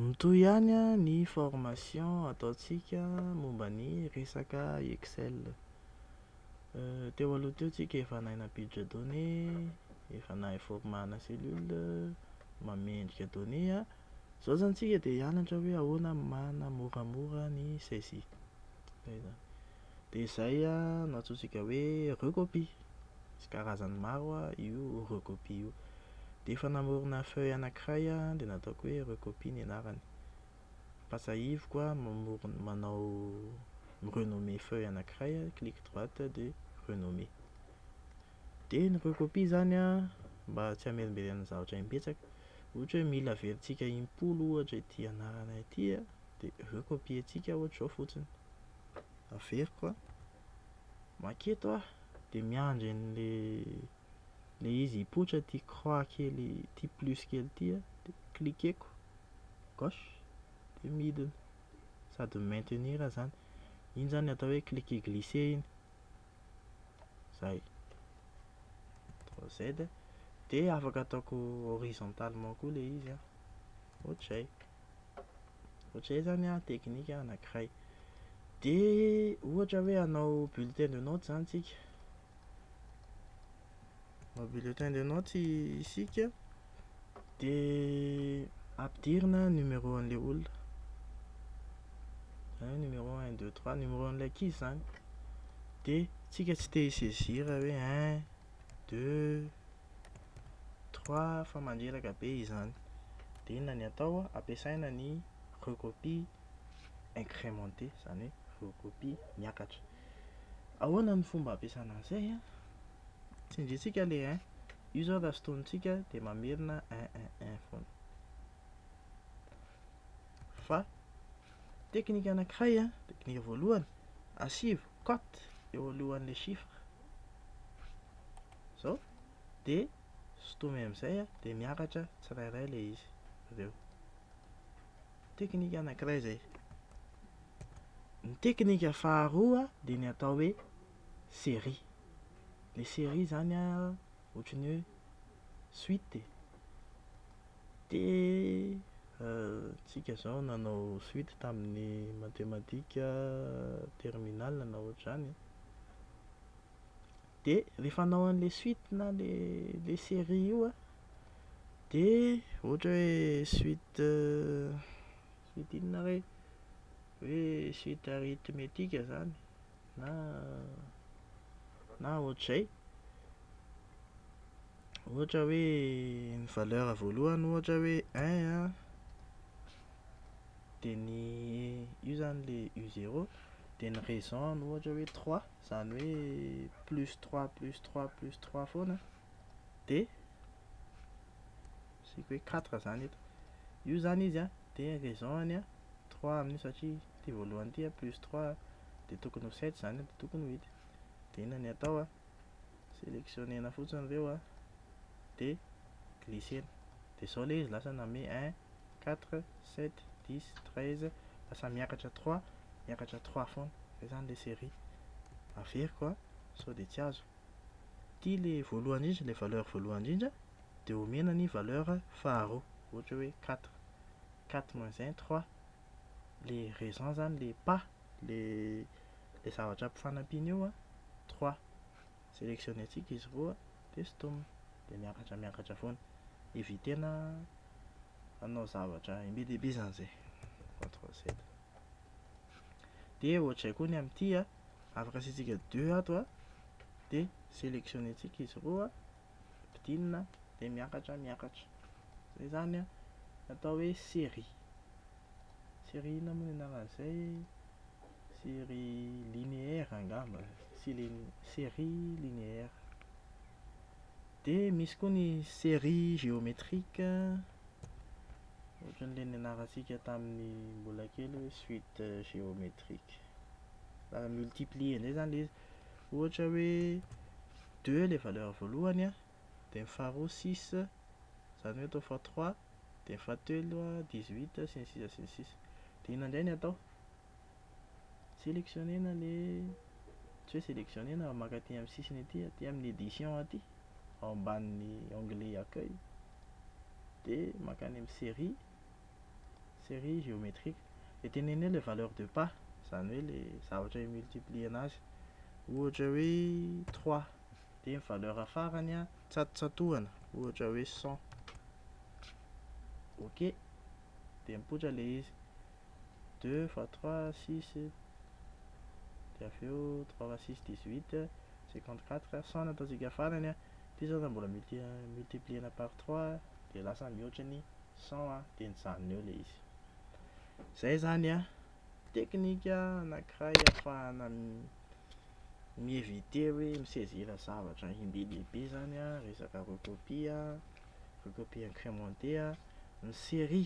Mitohy ihany ny formation ataontsika momba ny resaka Excel. Teo aloha teo tsika efa nahay nampiditra données, efa nahay formana cellule, mamendrika données. Izao izany tsika dia hianatra hoe ahoana no manamoramora ny saisie. Izay izany. Dia izay no antsointsika hoe recopy. Misy karazany maro io recopy io. Dia efa namorona feuille anankiray aho dia nataoko hoe recopy ny anarany. Ampatsahiviko aho mamorona manao mi-renommer feuille anankiray, clic droite dia renommer. Dia ny recopy izany an, mba tsy hamerimberenana zavatra imbetsaka, ohatra hoe mila averintsika impolo ohatra ity anarana ity an, dia recopier-ntsika ohatra izao fotsiny. averiko an, maka eto aho dia miandry an'le le izy hipoitra ity croix kely ity plus kely ity an, dia cliqueko gauche dia midina sady maintenir aho zany, iny zany atao hoe cliquer glisser iny, zay, ctrl z, dia afaka ataoko horizontalement koa le izy an, ohatr'izay. Ohatr'izay izany an, teknika anankiray. Dia ohatra hoe hanao bulletin de notes izany isika. Hanao bulletin de notes isika dia ampidirina numéro an'ilay olona. Izany numéro 1, 2, 3, numéro an'ilay ankizy izany. Dia isika tsy te hi-saisir hoe 1, 2, Trois fa mandreraka be izany. Dia inona ny atao an, ampiasaina ny recopie incrementée, izany hoe recopie miakatra. Ahoana ny fomba ampiasana an'izay an? Tsindriantsika ilay un, io izao raha sintonintsika dia mamerina un un un foana. Fa teknika anankiray an, teknika voalohany, asivo cote eo alohan'ilay chiffre. zao de sotomy amizay a de miakatra tsirairay le izy aveo teknika anakiray zay ny teknika faharoa de ny atao hoe serie le serie zany a ohatry ny hoe suite e de tsika zao nanao suite taminy matematika terminale na ohatry zany de refa anao anle suite na le le serie io a de ohatra hoe suite suite inona re hoe suite arithmetique zany na na ohatr'izay ohatra hoe ny valeur voalohany ohatra hoe un a de ny io zany le u zero de ny raison ny ohatra hoe trois Izany hoe plus trois plus trois plus trois foana dia asiako hoe quatre izany eto. Io izany izy an, dia raison-ny an, trois amin'io satria ity voalohany ity an, plus trois dia tokony ho sept izany an, dia tokony ho eight. Dia inona ny atao an, selectionner-na fotsiny ireo an, dia glisser-na. Dia izao ilay izy lasa nanome un quatre, sept, dix, treize, lasa miakatra trois, miakatra trois foana, izay izany ilay série. Averiko an, sao dia tsy azo. Ity ilay voalohany indrindra, ilay valeur voalohany indrindra, dia omena ny valeur faharoa, ohatra hoe quatre, quatre moins un, trois, ilay raison izany, ilay pas, ilay zavatra ampifanampiana eo an, trois. Sélectionner-tsika izy roa dia stom, dia miakatra miakatra foana. Eviter-na hanao zavatra be dia be izany izay. Control Z. Dia ohatr'izay koa ny amin'ity a, afaka asiantsika deux ato a, dia sélectionner-tsika izy roa, ampidinina, dia miakatra miakatra. Izay izany a, atao hoe série. Série inona moa ny anaran'izay? Série linéaire angamba, série linéaire. Dia misy koa ny série géométrique, ohatran'ilay nianarantsika tamin'ny mbola kely hoe suite géométrique. Raha multiplier indray izany ilay izy. Ohatra hoe deux ilay valeur voalohany an, dia ny faharoa six, izany hoe atao fois trois, dia ny fahatelo dix huit, sy ny sisa sy ny sisa. Dia inona indray no atao? Sélectionner-na ilay, tsy hoe sélectionner-na fa maka aty amin'ny sisiny aty, aty amin'ny édition aty, ao ambanin'ny onglet accueil, dia mankany amin'ny série, série géométrique. Dia teneno eo ilay valeur de part, izany hoe ilay zavatra hi-multiplier-na azy. Ohatra hoe trois, dia ny valeur farany an, tsatotsatohana, ohatra hoe cent. OK. Dia mipoitra ilay izy. deux fois trois six dia avy eo trois fois six dix huit cinquante quatre cent no ataontsika farany an, ity izao raha mbola multiplier-na par trois dia lasa mihoatra ny cent an, dia nijanona eo ilay izy. Izay izany an, teknika anankiray ahafahana mi-eviter hoe mi-saisir zavatra inbe dia be izany an, resaka recopie an, recopie incrementé an, ny série